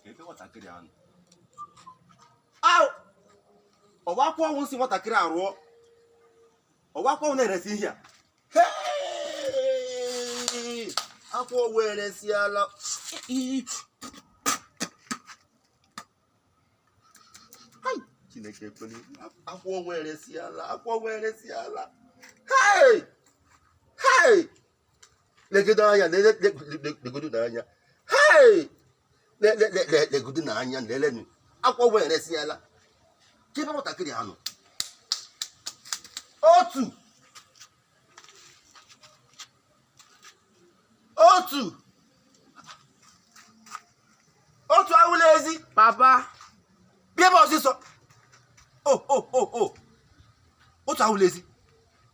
ebe nwatakịrị a nọ au ọ wụ akwụ ọnwụ si nwatakịrị a rụọ ọ wụ akwụ ọnwụ na-eresi ihe a Hey! akwụ ọnwụ eresiala Hai! chineke ekwela akwụ ọnwụ eresiala akwụ ọnwụ eresiala Hai! Hai! legodo anya lele legodo n'anya Hai! Le- le- le- le- legodo n'anya lelenụ akwụ ọnwụ eresiala kebe nwatakịrị a nọ otu otu otu awụla ezi papa bịa ebe a ọsịsọ o o o o otu awụla ezi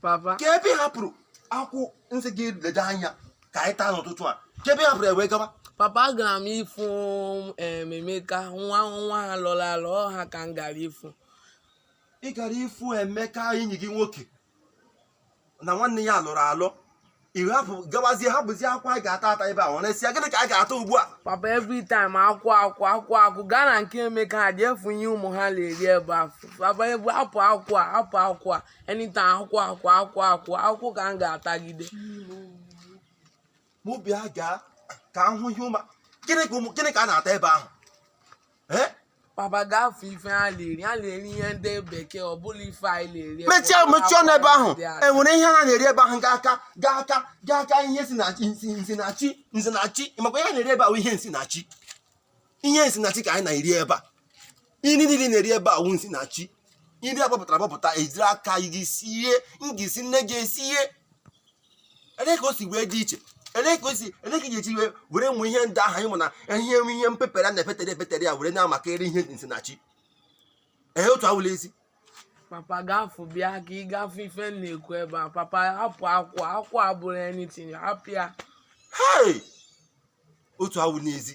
papa kebe ị hapụrụ akwụ m sị gị lede anya ka anyị taa n'ụtụtụ a kebe ị hapụrụ ya wee gaba papa agara m ịfụ em, emeka nwa nwa ha lọrọ alọ ọ ha ka m gara ịfụ ị gara ịfụ emeka enyi gị nwoke na nwanne ya lọrọ alọ ị wee hapụ gawazie hapụzie akwụ anyị ga-ata ata ebe a ọ na-esi ya gịnị ka anyị ga-ata ugbu a papa every time akwụ akwụ akwụ akwụ gaa na nke emeka ha jee fụ ife ọma ha na-eri ebe afụ papa ebu hapụ akwụ a hapụ akwụ a anytime akwụ akwụ akwụ akwụ akwụ ka m ga-atagide mụ bịa gaa ka m hụ ihe ọma gịnị ka ọma gịnị ka a na-ata ebe ahụ ee papa gaa fụ ife ha na-eri ha na-eri ihe ndị bekee ọ bụrọ ife anyị na-eri mechie mechie ọnụ ebe ahụ enwere ihe ha na-eri ebe ahụ ga-aka ga-aka ga-aka ihe si na chi nsi nsi na chi nsi na chi makwa ihe ha na-eri ebe ahụ ihe nsi na chi ihe nsi na chi ka anyị na-eri ebe a nri niile a na-eri ebe a wụ nsi na chi nri agbapụtara agbapụta i jiri aka gị sie gị sị nne gị esie ele ka o si wee dị iche ele ka o si ele ka ị ga-eji wee were ụmụ ihe ndị ahụ anyị mụ na ihe nwe ihe mpepere a na-epetere epetere ya were na-amakarị ihe nsi na chi ee otu awụla ezi papa gaa fụ bịa ka ị gaa fụ ife m na-ekwu ebe a papa hapụ akwụ a akwụ a abụrọ anything hapụ ya hei otu awụla ezi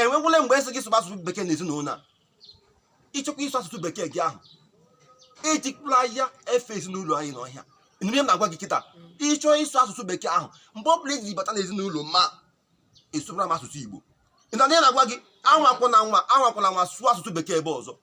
enwegwule mgbe esi gị sụba asụsụ bekee n'ezinụlọ a ị chọkwa ịsụ asụsụ bekee gị ahụ ejikwala ya efe ezinụlọ anyị n'ọhịa ị nụ ihe m na-agwa gị kịta ị chọọ ịsụ asụsụ bekee ahụ mgbe ọ bụla i ji bata n'ezinụlọ m a ị sụbara m asụsụ igbo ị nụ ihe m na-agwa gị anwakwụna anwa anwakwụna anwa sụọ asụsụ bekee ebe a ọzọ